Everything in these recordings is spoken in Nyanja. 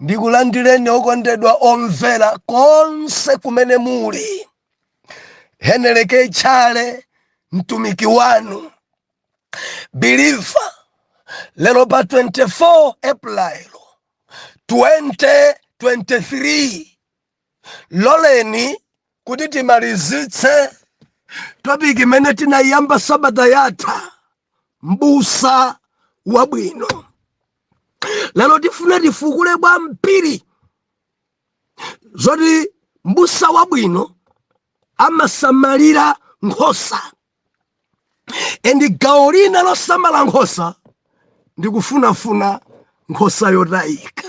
ndikulandireni okondedwa omvera konse kumene muli heneleke tchale mtumiki wanu biliva lero pa 24 april 2023 loleni kuti timalizitse topiki imene tinayiyamba sabata yatha mbusa wabwino lero tifuna tifukule kwambiri zoti mbusa wabwino amasamalira nkhosa endi gawo lina losamala nkhosa ndikufunafuna nkhosa yotayika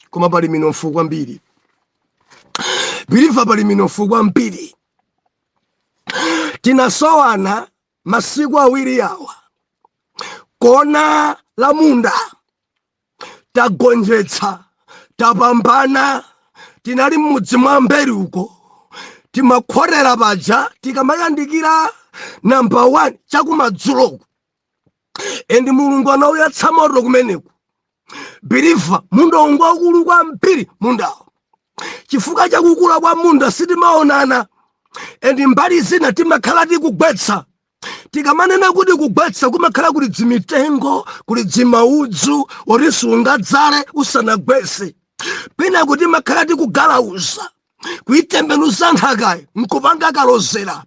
koma pali minofu kwambiri biliva pali minofu kwambiri tinasowana masiku awiri awa kona la munda tagonjetsa tapambana tinali m'mudzi mwa mberi uko timakhotera paja tikamayandikira namba 1 chakumadzuloku endi mulungu anauyatsa moto kumeneku biliva mundawu ngwaukulu kwambiri mundawo chifukwa chakukula kwa munda sitimaonana endi mbali zina timakhala tikugwetsa tikamanena kuti kugwetsa kumakhala kuli dzimitengo kuli dzimaudzu oti sungadzale usanagwetse penako timakhala tikugalauza kuitembenuza nthakayi nkupanga kalozera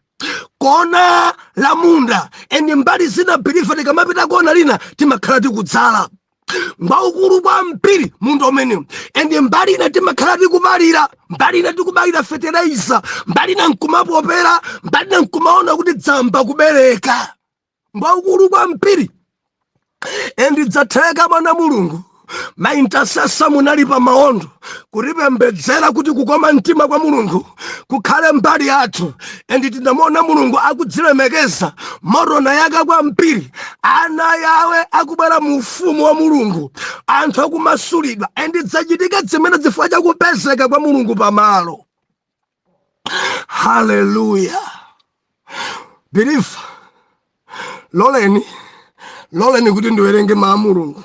kona la munda endi mbali zina biliva tikamapita kona lina timakhala tikudzala ngwaukulu kwambiri munda umenewu endi mbali ina timakhala tikupalira mbali ina tikubayira fetereza mbali ina nkumapopera mbali ina nkumaona kuti dzayamba kubereka ngwaukulu kwambiri endi dzatheka mwana mulungu maintasesa munali pa maondo kutipembedzera kuti kukoma mtima kwa mulungu kukhale mbali yathu endi tinamuona mulungu akudzilemekeza moto unayaka kwambiri ana yawe akubwera mu ufumu wa mulungu anthu akumasulidwa endi dzachitika zimenezi chifukwa chakupezeka kwa mulungu pamalo haleluya biliva loleni loleni kuti ndiwerenge mawu a mulungu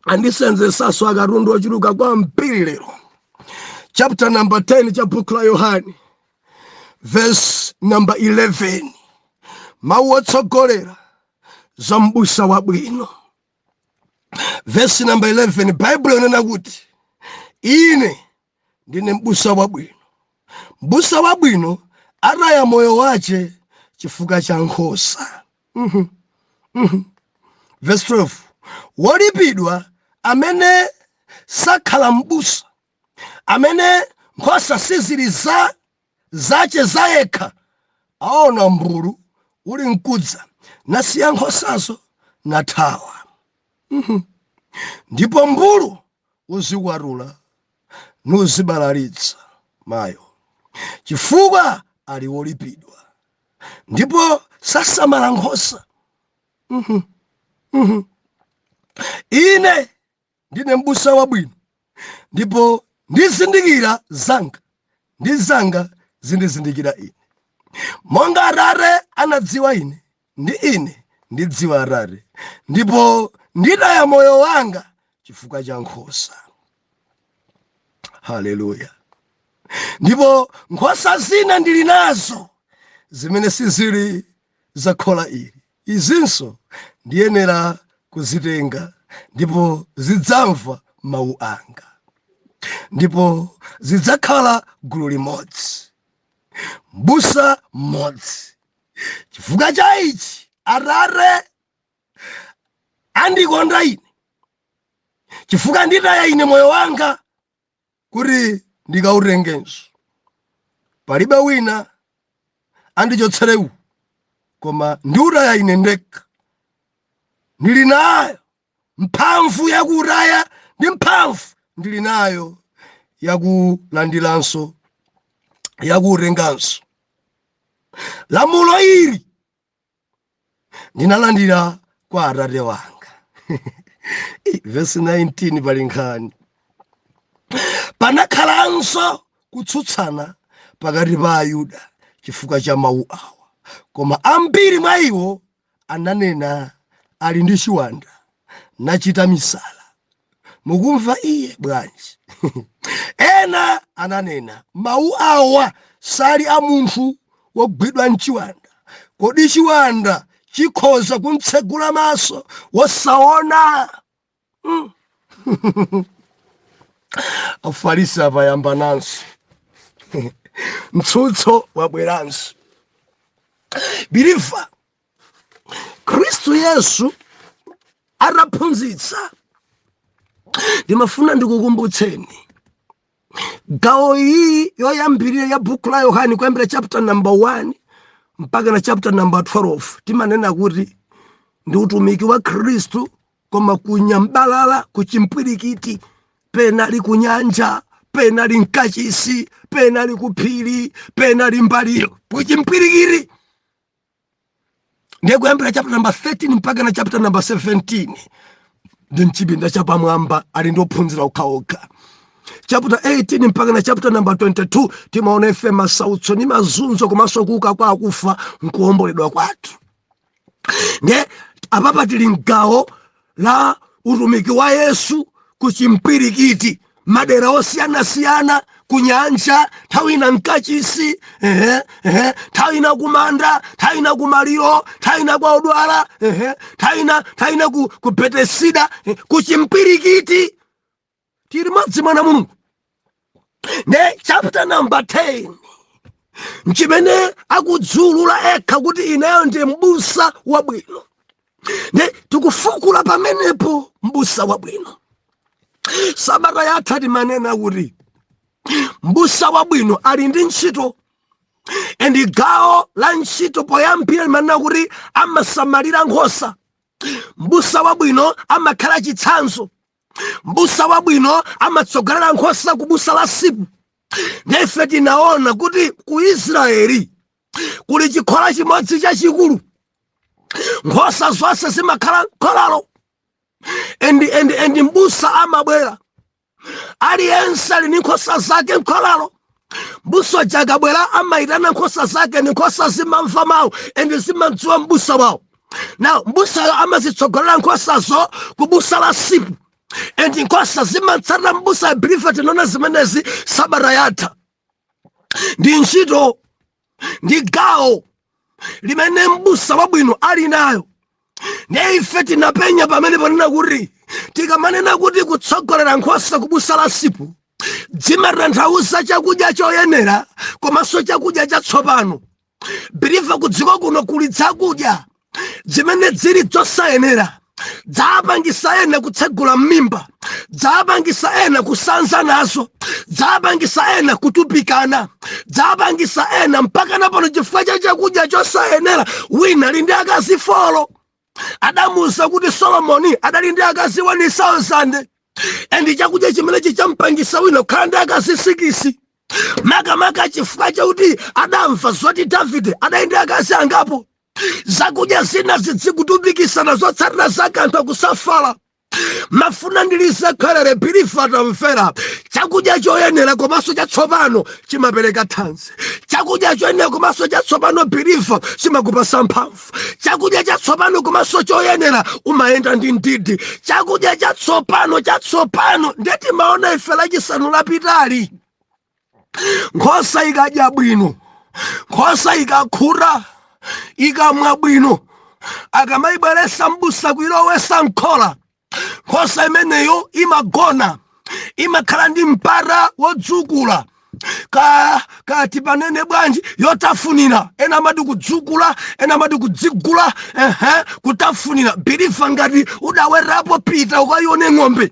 andisenzetsanso akatundu ochuluka kwambiri lero chapter number 10 cha buku la yohane verse number 11 mawu otsogolera za mbusa wabwino verse number 11 baibulo inena kuti ine ndine mbusa wabwino mbusa wabwino ataya moyo wace chifukwa cha nkhosa Mhm. Mhm. verse 12 wolipidwa amene sakhala mbusa amene nkhosa sizili zace zayekha aona mbulu uli mkudza nasiya nkhosazo nathawa Mhm. ndipo mbulu uzikwatula nuzibalalitsa mayo chifukwa ali wolipidwa ndipo sasamala nkhosa Mhm. Mhm. ine ndine mbusa wabwino ndipo ndizindikira zanga ndi zanga zindizindikira ine monga atate andidziwa ine ndi ine ndidziwa Atate, ndipo nditaya moyo wanga chifukwa cha nkhosa. Haleluya! Ndipo nkhosa zina ndili nazo zimene sizili za khola ili, izinso ndiyenera kuzitenga, ndipo zidzamva mawu anga, ndipo zidzakhala gulu limodzi, mbusa mmodzi. chifukwa cha ichi atate andikonda ine chifukwa nditaya ine moyo wanga kuti ndikautengenso palibe wina andichotsera uwu koma ndiutaya ine ndekha ndili nayo Mphamvu yakuutaya ndi mphamvu ndili nayo yakulandiranso, yakuutenganso. Lamulo ili ndinalandira kwa Atate wanga. Vesi 19 pali nkhani. Panakhalanso kutsutsana pakati pa Ayuda chifukwa cha mawu awa, koma ambiri mwa iwo ananena, Ali ndi chiwanda, nachita misala. Mukumva iye bwanji? Ena ananena, Mawu awa sali a munthu wogwidwa nchiwanda. Kodi chiwanda chikhoza kumtsegula maso wosaona? mm. afarisi ayambananso mtsutso wabweranso biliva khristu yesu ataphunzitsa ndimafuna ndikukumbutseni gawo iyi yoyambirira ya buku la yohane kuyambira chapter number 1 mpakana chapter number 12 timanena kuti ndi utumiki wa khristu koma kunyambalala kuchimpwirikiti pena ali kunyanja pena ali mkachisi pena ali kuphiri pena ali mmaliro kuchimpwirikiti ndiye kuyambira chapter number 13 mpaka na chapter number 17 ndi mchipinda chapamwamba ali ndi ophunzira okhaokha chapter 18 mpaka na chapter number 22 timaona ife masautso ndi mazunzo komanso kuuka kwa akufa nkuomboledwa kwathu nde apapa tili mgawo la utumiki wa yesu ku chimpwirikiti madera osiyanasiyana kunyanja nthawi ina mkachisi ehe, ehe, nthawi ina kumanda nthawi ina kumaliro nthawi ina kwa odwala ehe, nthawi ina nthawi ina ku, ku betesida eh, ku chimpwirikiti tili modzi mwana mulungu ne chapter number 10 nchimene akudziulula ekha kuti ineyo ndi mbusa wabwino ne tikufukula pamenepo mbusa wabwino sabata yatha timanena kuti mbusa wabwino ali ndi ntchito and gawo la ntchito loyambira limanena kuti amasamalira nkhosa mbusa wabwino amakhala chitsanzo mbusa wabwino amatsogolera nkhosa ku busa la msipu nde ife tinaona kuti ku israeli kuli chikhola chimodzi chachikulu nkhosa zonse zimakhala mkholalo and, and, and mbusa amabwera aliyense ali ndi nkhosa zake mkholalo mbusa uja akabwera amayitana nkhosa zake ndi nkhosa zimamva mawu ende zimamdziwa mbusa wawo now mbusayo amazitsogolera nkhosazo ku busa la msipu endi nkhosa zimatsata mbusa ya believer tinaona zimenezi sabata yatha ndi ntchito ndi gawo limene m'busa wabwino ali nayo ndiye ife tinapenya pamene pamanena kuti tikamanena kuti kutsogolera nkhosa kubusa la msipu zimatanthauza chakudya choyenera komanso chakudya chatsopano believer kudziko kuno kuli zakudya dzimene dzili dzosayenera dzapangisa ena kutsegula mmimba dzapangisa ena kusanza nazo dzapangisa ena kutupikana dzapangisa ena mpaka napano chifukwa cha chakudya chosayenera wina ali ndi akazi folo adamuuza kuti solomoni adali ndi akazi 1000 and chakudya chimenechi champangisa wina kukhala ndi akazi sikisi makamaka chifukwa chakuti adamva zoti davide adali ndi akazi angapo zakudya zina zidzikutupikisana zotsatira zake anthu akusafala mafuna ndiliza khalere biliva atamvera chakudya choyenera komanso chatsopano chimapereka thanzi chakudya choyenera komanso chatsopano biliva chimakupasa mphamvu chakudya chatsopano komanso choyenera umayenda ndi mdidi chakudya chatsopano chatsopano nde timaona ife lachisanu lapitali nkhosa ikadya bwino nkhosa ikakhuta ikamwa bwino akamayibweresa mbusa kuyilowesa mkhola nkhosa imeneyo imagona imakhala ndi mpata wodzukula ka kati panene bwanji yotafunira ena amati kudzukula ena amati kudzigula ehe kutafunira biliva ngati udawetapo pita ukayione ng'ombe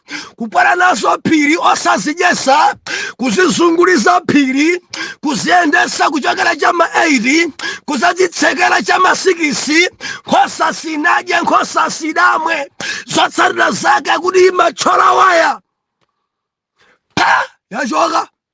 kukwera nazo phiri osazidyesa kuzizungulisa phiri kuziyendesa kuchokera cha ma 8 kuzazitsekera cha ma 6 nkhosa sinadya nkhosa sidamwe zotsatira zake kuti imatchola waya pa yachoka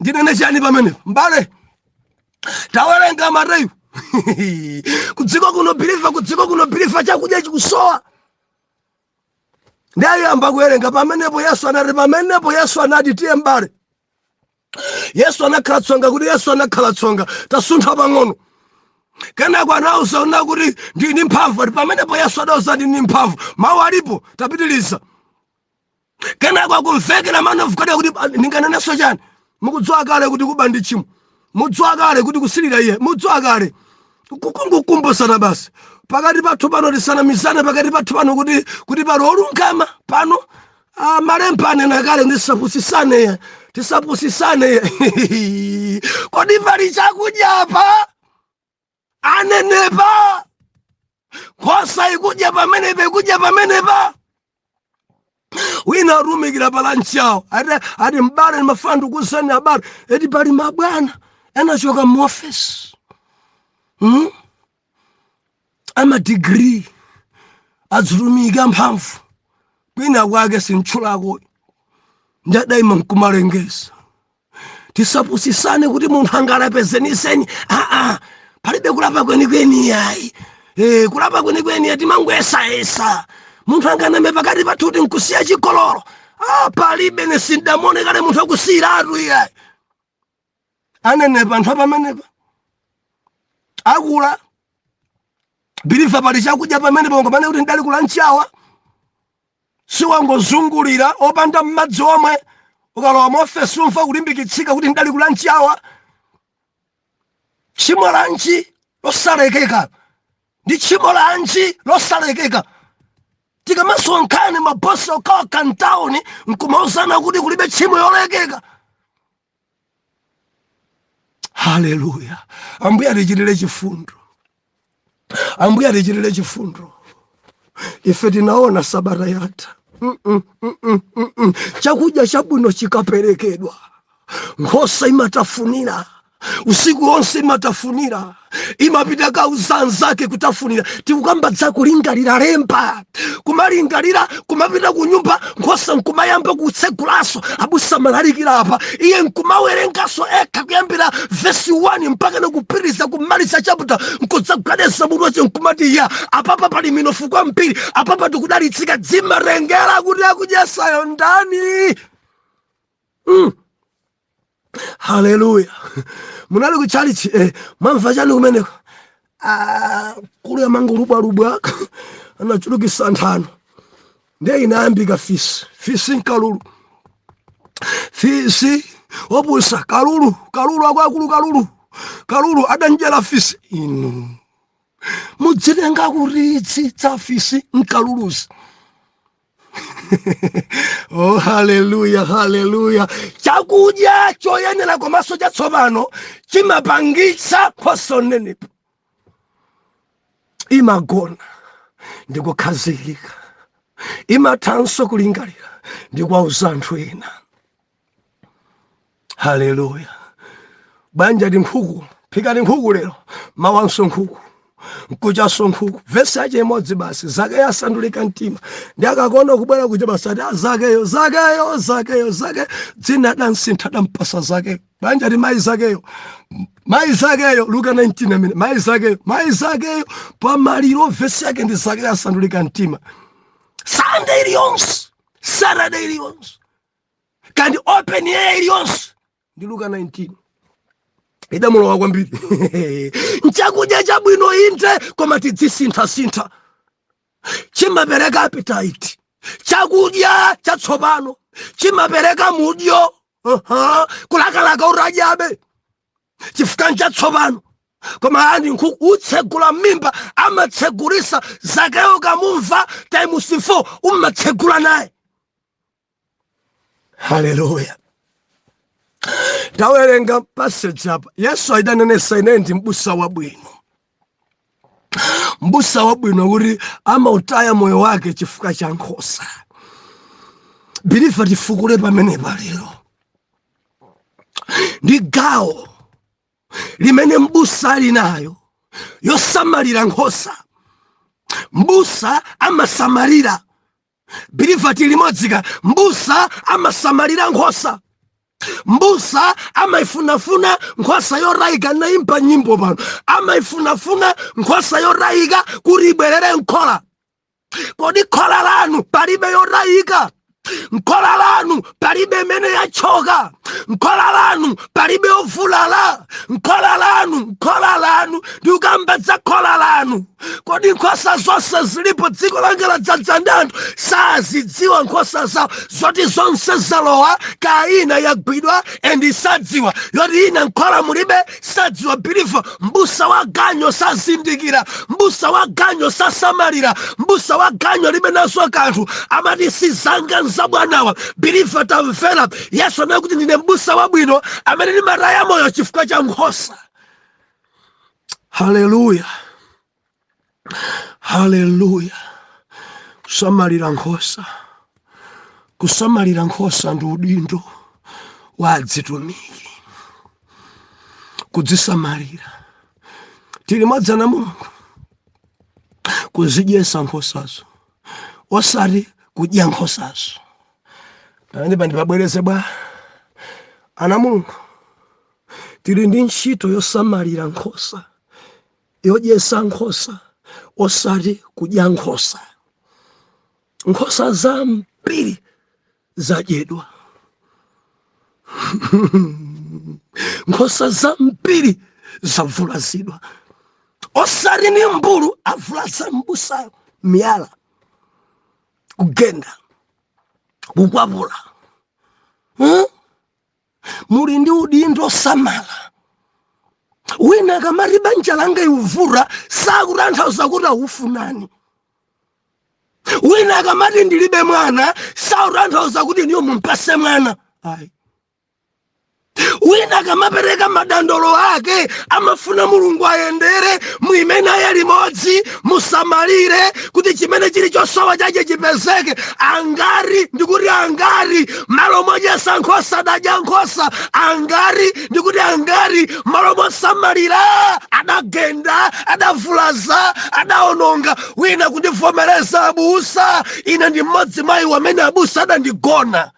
ndinene chani pamenepa mbale tawerenga mateyu kudziko kuno biliva kudziko kuno biliva chakudya chikusowa ndayamba kuwerenga pamenepo yesu anati pamenepo yesu anati tiye mbale yesu anakhala tsonga kuti yesu anakhala tsonga tasuntha pang'ono kenako anauza una kuti ndini mphamvu ati pamenepo yesu adauza ndini mphamvu mawu alipo tapitiliza kenako akumvekera man of god kuti "Ah, ndinganenenso chani mukudziwa kale kuti kuba ndi tchimo mudziwa kale kuti kusilira iye mudziwa kale nkungokumbusana basi pakati pathu pano tisanamizane pakati pathu pano kuti kuti pali olungama pano ah, malemba anena kale kuti tisapusisane iye tisapusisane iye kodi pali chakudya apa aneneba nkhosa ikudya pamenepa ikudya pamenepa wina atumikira palanchi yawo ati ati mbale ni mafana ndikuuzani abale eti pali mabwana anachoka mu office hmm? amadigiri adzitumiki amphamvu kwina kwake sintchulako ndadaima nkumalengeza tisapusisane kuti munthu angalape zeniseni aa palibe kulapa kwenikweni yayi e, kulapa kwenikweni yayi timangoyesayesa munthu anganame pakati pathu kuti nkusiya chikololo ah, palibe nesindamone kale munthu akusiyiratu iyayi aneneba anthu apamenepa akula biliva pali chakudya pamenepa ngopane kuti ndidali kula nchawa siwangozungulira opanda mmadzi omwe ukalowa muofesi umva kulimbikitsika kuti ndidali kulanchi awa tchimo lanji losalekeka ndi tchimo lanji losalekeka tikamasonkhana mabosi okhaokha ntawuni nkumauzana kuti kulibe tchimo yolekeka haleluya ambuye atichitire chifundo ambuye atichitire chifundo ife tinaona sabata yatha chakudya chabwino chikaperekedwa nkhosa imatafunira usiku wonse imatafunira imapita kauza anzake kutafunira tikukamba za kulingalira lemba kumalingalira kumapita kunyumba nkhosa nkumayamba kutsegulaso abusa amalalikira apa iye nkumawerengaso ekha kuyambira vesi 1 mpaka nakupitiriza kumaliza chaputa nkudzagwedeza mutu wace nkumati ya apapa pali minofu kwambiri apapa tikudalitsika dzimatengera kuti akudyetsayo ndani mm. haleluya munali ku chalichi eh, mwamva chani kumeneko ah, mkulu uja amangolubwalubwa anachulukisa nthano ndiye inayambika fisi fisi nkalulu fisi opusa kalulu kalulu akwakulu kalulu kalulu adachenjera fisi inu mudzitenga kuritsitsa fisi nkaluluzi oh haleluya haleluya chakudya choyenera komanso chatsopano chimapangitsa nkhosa kunenepa imagona ndikukhazikika imathanso kulingalira ndi kwauza anthu ena haleluya banja ndi nkhuku phikani nkhuku lero mawanso nkhuku nkuchaso nkhuku vesi yache imodzi basi zakeyo asandulika mtima ndi akakuona kubwera kuja basi ati "Ah, zakeyo zakeyo zakeyo zake dzina adansintha adampasa zakeyo banja ati mayi zakeyo mayi zakeyo luka 19 amene mayi zakeyo mayi zakeyo pamaliro vesi yake ndi zakeyo asandulika mtima sande iliyonse saturday iliyonse kandi open air iliyonse ndi luka 19 idamulowa kwambiri nchakudya chabwino inde koma tidzisinthasintha chimapereka appetite chakudya chatsopano chimapereka mudyo uh -huh. kulakalaka utadyabe chifukwa nchatsopano koma ani nkhuku utsegula mmimba amatsegulisa zakeyo ukamumva times 4 umatsegula naye haleluya tawerenga passage apa yesu adanenetsa ine ndi mbusa wabwino mbusa wabwino kuti amautaya moyo wake chifukwa cha nkhosa biliva tifukule pamenepa lero ndi gawo limene mbusa ali nayo yosamalira nkhosa mbusa amasamalira biliva tili limodzi ka mbusa amasamalira nkhosa mbusa amaifunafuna nkhosa yotayika naimba nyimbo pano amaifunafuna nkhosa yotayika kuti ibwerere mkhola kodi khola lanu palibe yotayika mkhola lanu palibe imene yachoka mkhola lanu palibe ovulala mkhola lanu mkhola lanu ndikukamba za khola lanu kodi nkhosa zonse zilipo dziko langa ladzadza ndi anthu sazidziwa nkhosa zawo zoti zonse zalowa kaya ina yagwidwa endi sadziwa yoti ina mkhola mulibe sadziwa biliva mbusa wa ganyo sazindikira mbusa wa ganyo sasamalira mbusa wa ganyo alibe nazo kanthu amati sizanga n'za bwanawa biliva tamvera yesu anena kuti ndine mbusa wabwino amene ndimataya moyo chifukwa cha nkhosa haleluya haleluya kusamalira nkhosa kusamalira nkhosa ndi udindo wa adzitumiki kudzisamalira tili limodzi ana a mulungu kuzidyesa nkhosazo osati kudya nkhosazo pamenepa ndipabwereze bwa ana a mulungu tili ndi ntchito yosamalira nkhosa yodyesa nkhosa osati kudya nkhosa nkhosa zambiri zadyedwa nkhosa zambiri zavulazidwa osati ndi mmbulu wavulaza mbusayo miyala kugenda kukwapula huh? muli ndi udindo samala wina akamati banja langa likuvuta sakutanthauza kuti akufunani wina akamati ndilibe mwana sakutanthauza kuti inuyo mumpatse mwana ayi wina akamapereka madandaulo ake amafuna mulungu ayendere mwa inu tili limodzi musamalire kuti chimene chili chosowa chache chipezeke angati ndikuti angati malo modyesa nkhosa adadya nkhosa angati ndikuti angati malo mosamalira adagenda adavulaza adaononga wina akundivomereza abusa ine ndi mmodzi mwa iwo amene abusa adandigona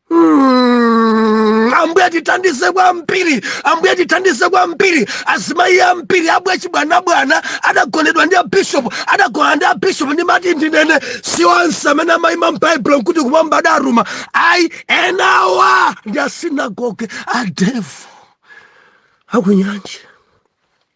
Mm, ambuye tithandize kwambiri ambuye tithandize kwambiri azimayi ambiri abwe chibwanabwana adagonedwa ndi abishopu adagona ndi abishopu ndimati ndinene si onse amene amayima m'baibulo nkuti kumwamba adatuma ayi enawa ndi asinagoge a devil akunyanje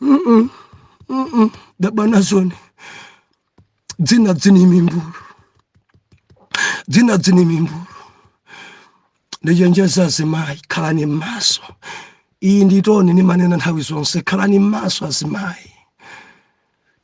Mm-mm. Mm-mm. daba nazoni dzinadzi ni mimbulu dzinadzi ni mimbulu ndichenjeza azimayi khalani m'maso iyi nditoni ndimanena nthawi zonse khalani m'maso azimayi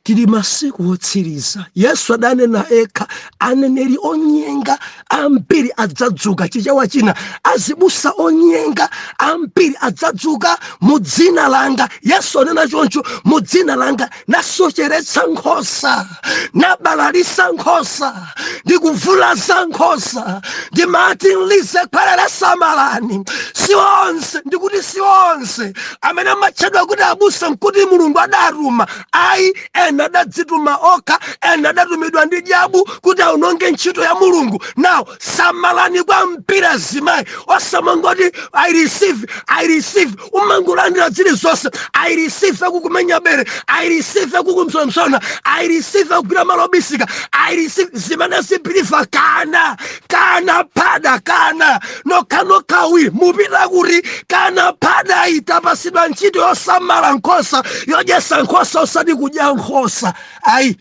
tili masiku otsiriza yesu adanena ekha aneneri onyenga ambiri adzadzuka chichewa china azibusa onyenga ambiri adzadzuka mu dzina langa yesu anena choncho mu dzina langa nasocheretsa nkhosa nabalalisa nkhosa ndikuvulaza nkhosa ndimati ndilize khwelele samalani si onse ndikuti si onse amene amatchedwa kuti abusa nkuti mulungu adatuma ayi ena adadzituma okha ena adatumidwa ndi dyabu kuti aononge ntchito ya mulungu now samalani kwambiri azimayi osamangoti i receive i receive umangolandira zilizonse i receive akukumenya bere i receive akukupsompsona i receive akugwira malo obisika i receive zimene zipilifa kana kana pada kana nokhanokhawi mupita kuti kana phadayi tapasidwa ntchito yosamala nkhosa yodyesa nkhosa osati kudya nkhosa ayi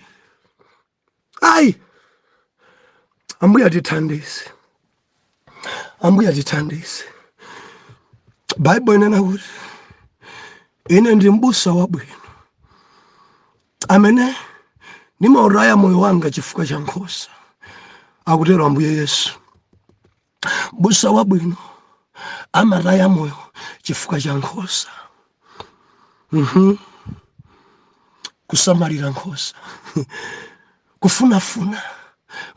ayi ambuye tithandize ambuye tithandize baibo inena kuti ine ndi mbusa wabwino amene nimautaya moyo wanga chifukwa cha nkhosa akutero ambuye yesu mbusa wabwino amataya moyo chifukwa cha nkhosa mm-hmm. kusamalira nkhosa kufunafuna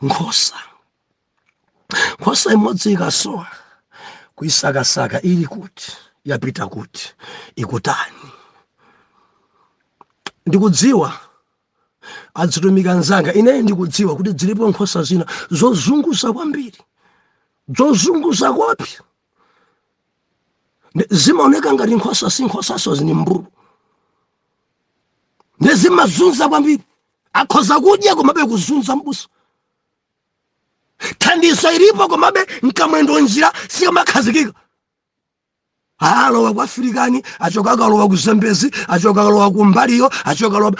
nkhosa nkhosa imodzi ikasowa kuisakasaka ili kuti yapita kuti ikutani ndikudziwa adzitumiki anzanga ineyi ndikudziwa kuti dzilipo nkhosa zina zozunguza kwambiri zozunguza koopsa zimaoneka ngati nkhosa si nkhosanso ndi mimbulu nde zimazunza kwambiri akhoza kudya komabe kuzunza mbusa thandizo ilipo komabe nkamwendo njira sikamakhazikika alowa ku afirikani achoka akalowa ku zambezi achoka akalowa ku mbaliyo achoka akalowa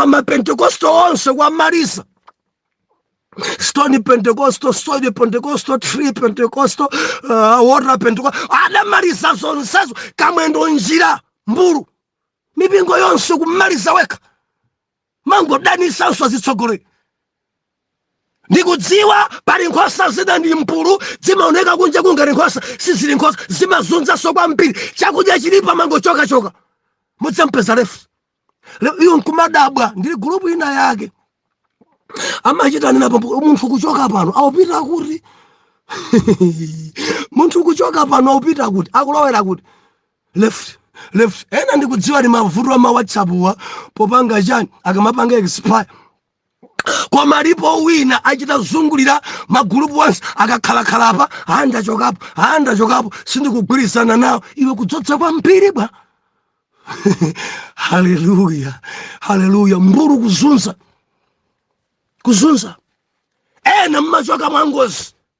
mapentekosto ma, ma, ma onse kuwamaliza stone pentecostal soil pentecostal tree pentecostal uh, water pentecostal adamaliza zonsezo kamwendo njira mbulu mipingo yonse kumaliza wekha kumangodanitsanso azitsogoleri ndikudziwa pali nkhosa zina ndi mbulu zimaoneka kunjaku ngati nkhosa sizili nkhosa zimazunzanso kwambiri chakudya chilipo kumangochokachoka mudzampeza left le- iwo nkumadabwa ndili gulupu ina yake amachita nenapo munthu kuchoka pano ukupita kuti munthu kuchoka pano akupita kuti akulowera kuti left left ena ndikudziwa ndi mavuto a ma whatsappwa popanga chani akamapanga expire koma alipo wina achita kuzungulira magulupu onse akakhalakhala apa aa ndachokapo aa ndachokapo sindikugwirizana nawo iwe kudzodza kwambiri bwa haleluya haleluya mbulu kuzunza kuzunza ena mumachoka mwangozi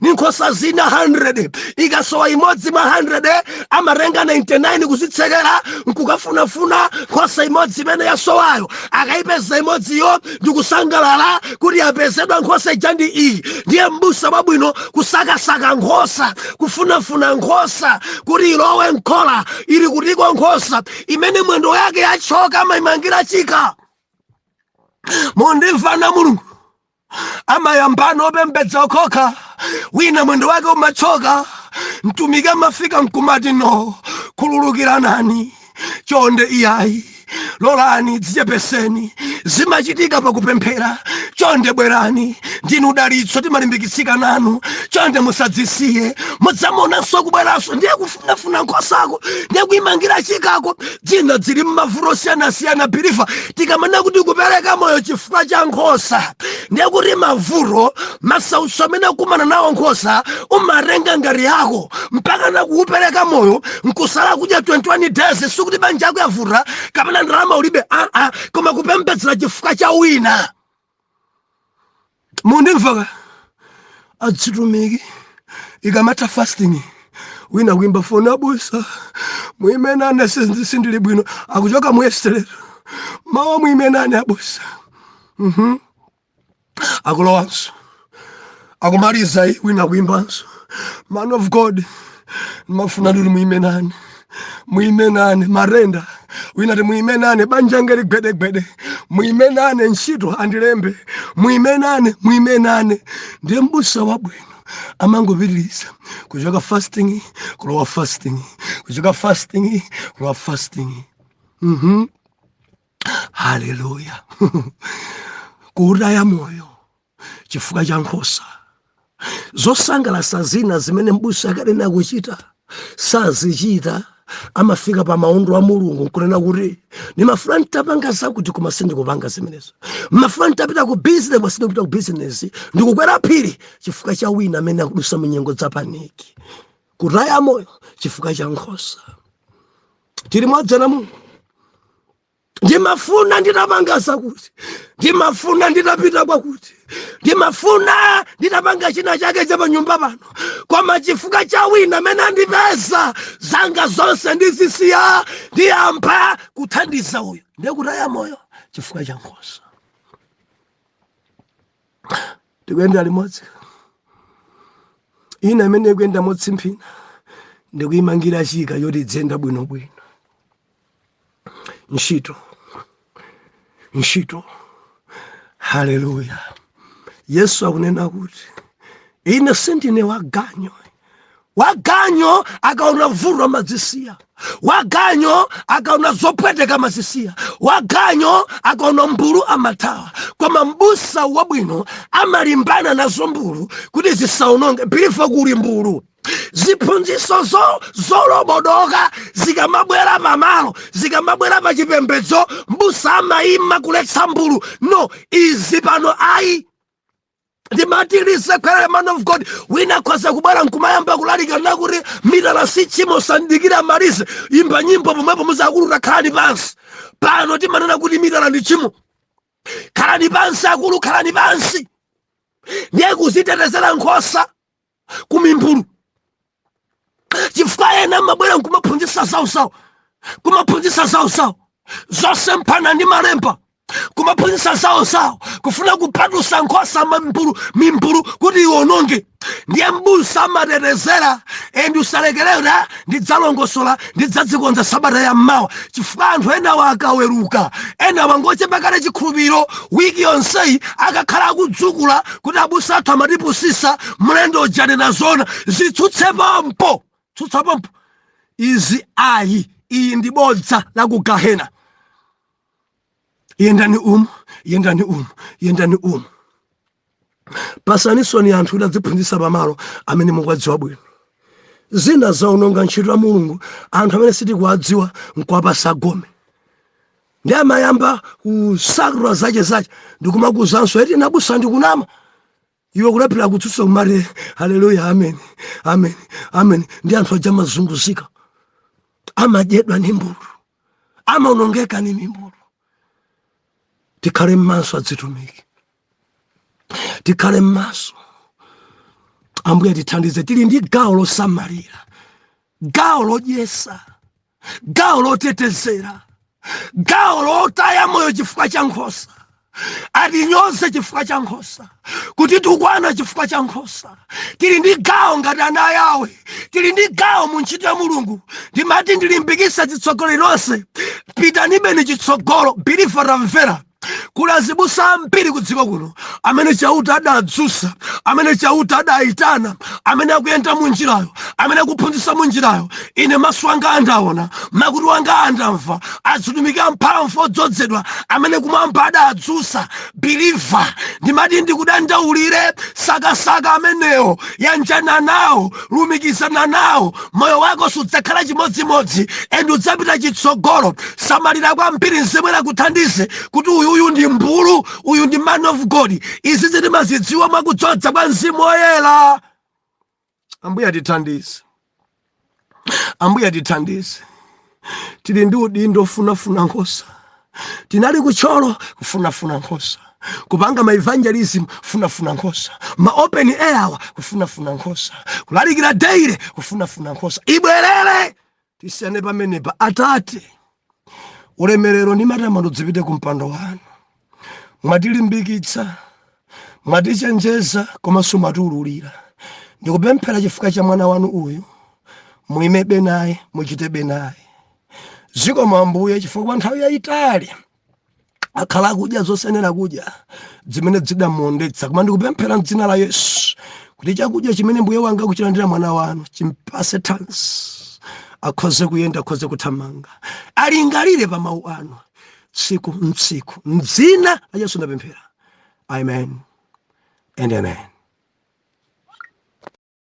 ndi nkhosa zina 100 ikasowa imodzi mwa 100 amatenga 99 kuzitsekera nkukafunafuna nkhosa imodzi imene yasowayo akayipeza imodziyo ndikusangalala kuti yapezedwa nkhosa ija ndi iyi ndiye mbusa wabwino kusakasaka nkhosa kufunafuna nkhosa kuti ilowe mkhola ili kutiko nkhosa imene mwendo yake yatchoka amayimangira chika mundimvana mulungu amayambano opembedza okhaokha wina mwendo wake umatchoka mtumiki amafika mkumati no khululukiranani chonde iyayi lolani dzichepeseni zimachitika pakupemphera chonde bwerani ndinu dalitso timalimbikitsika nanu chonde musadzisiye mudzamuonanso kubweranso ndiye kufa kufunafuna nkhosako ndikuimangira chikako zina zili m'mavuto osiyanasiyana biliva tikamanena kuti kupereka moyo chifukwa cha nkhosa ndekuti mavuto masautso amene akumana nawo nkhosa umatenga ngati yako mpaka nakuupereka moyo nkusala kudya 21 days sikuti banja yako yavuta kapena ndalama ulibe aa koma kupembedzera chifukwa cha wina mundimvaka azitumiki ikamatha fasting wina kuimba foni abusa muime nane sindili bwino akuchoka mu yesterday mawa muime nane abusa mhm. akulowanso akumaliza iyi wina kuimbanso man of god ndimafuna kuti muime nane muime nane matenda wina ati muime nane banja langa lili gwedegwede muime nane ntchito andilembe muime nane muime nane ndiye mbusa wabwino amangopitiriza kuchoka fasting kulowa fasting kuchoka fasting kulowa fasting mhm haleluya kuutaya moyo chifukwa cha nkhosa zosangalasa zina zimene mbusa akadayenera kuchita sazichita amafika pa maondo a mulungu nkunena kuti ndimafuna nditapanga zakuti koma sindikupanga zimenezo mmafuna nditapita ku bizinesi koma sindikupita ku bizinesi ndikukwera phiri chifukwa cha wina amene akudusa munyengo za paniki kutaya moyo chifukwa cha nkhosa tili limodzi ana a mulungu ndimafuna nditapanga zakuti ndimafuna nditapita kwakuti ndimafuna nditapanga china chake cha panyumba pano koma chifukwa cha wina amene andipeza zanga zonse ndizisiya ndiyamba kuthandiza uyo ndi kutaya moyo chifukwa cha nkhosa tikuyenda limodzi ina imene ikuyenda motsimphina ndikuyimangira chika choti idziyenda bwinobwino ntchito ntchito haleluya yesu akunena kuti ine sindine waganyo waganyo akaona vuto amadzisiya waganyo akaona zopweteka amazisiya waganyo akaona mbulu amathawa koma mbusa wabwino amalimbana nazo mbulu kuti zisaononge bilifa kuli mbulu ziphunziso zolobodoka zikamabwera pamalo zikamabwera pa chipembedzo mbusa amayima kuletsa mbulu no izi pano ayi sitimazilekerera man of god wina akhoza kubwera nkumayamba kulalika kunena kuti mitala si tchimo samadikira amalize imba nyimbo pomwepo muuza akulu takhalani pansi pano timanena kuti mitala ndi tchimo khalani pansi akulu khalani pansi ndiye kuzitetezera nkhosa ku mimbulu chifukwa ena amabwera nkumaphunzitsa zawozawo kumaphunzitsa zawozawo zosemphana ndi malemba kumaphunzitsa zawozawo kufuna kupatusa nkhosa mimbulu mimbulu kuti iwononge ndiye mbusa amatetezera and salekerera ndidzalongosola ndidzadzikonza sabata ya mawa chifukwa anthu enawa akaweruka enawa ngochepa kale chikhulupiriro wiki yonseyi akakhala akudzukula kuti abusa athu amatipusisa mlendo uja anena zoona zitsutse pompo tsutsa pompo izi ayi ili ndi bodza la ku gahena yendani umu yendani umu yendani umu patsani zoni anthu kuti adziphunzitsa pamalo amene mukuwadziwa bwino zina zaononga ntchito ya mulungu anthu amene sitikuwadziwa nkuwapasa gome nde amayamba kusakula zace zace ndikumakuzanso eti nabusa ndikunama iwe kulephera kutsutsa kumati haleluya amen amen amen ndi anthu aja amazunguzika amadyedwa ndi mimbulu amaonongeka ndi mimbulu tikhale mmaso adzitumiki tikhale mmaso ambuye tithandize tili ndi gawo losamalira gawo lodyesa gawo lotetezera gawo lotaya moyo chifukwa cha nkhosa atinyoze chifukwa cha nkhosa kutitukwana chifukwa cha nkhosa tili ndi gawo ngati ana a Yawe tili ndi gawo mu ntchito ya mulungu ndimati ndilimbikise utsogoleri lonse pitanibeni chitsogolo biliva tamvera kuli azibusa ambiri ku dziko kuno amene chauta adadzutsa amene chauta adayitana amene akuyenda mu njirayo amene akuphunzitsa mu njirayo ine maso anga andaona makutu anga andamva azitumiki amphamvu odzodzedwa amene kumwamba adadzutsa biliva ndimati ndikudandaulire sakasaka amenewo yanjana nawo lumikizana nawo moyo wako sudzakhala chimodzimodzi and udzapita chitsogolo samalira kwambiri mzimu woyera akuthandize kuti uyuyu ndi mbulu uyu ndi man of god izizi timazidziwa mwakudzodza kwa mzimu woyera ambuye atithandize ambuye atithandize tili ndi udindo ofunafuna nkhosa tinali kutcholo kufunafuna nkhosa kupanga ma evangelism kufunafuna nkhosa ma open air awa kufunafuna nkhosa kulalikira daily kufunafuna nkhosa ibwerere tisiyane pamenepa atate ulemerero ndi matamando zipite ku mpando wanu mwatilimbikitsa mwatichenjeza komanso mwatiululira ndikupemphera chifukwa cha mwana wanu uyu muimebe naye muchitebe naye zikomo ambuye chifukwa kwa nthawi yayitali akhala akudya zosayenera kudya zimene zidamuondetsa koma ndikupemphera mdzina la yesu kuti chakudya chimene mbuye wanga akuchilandira mwana wanu chimpase thanzi akhoze kuyenda akhoze kuthamanga alingalire pa mawu anu tsiku ndi tsiku mdzina la yesu ndapemphera amen and amen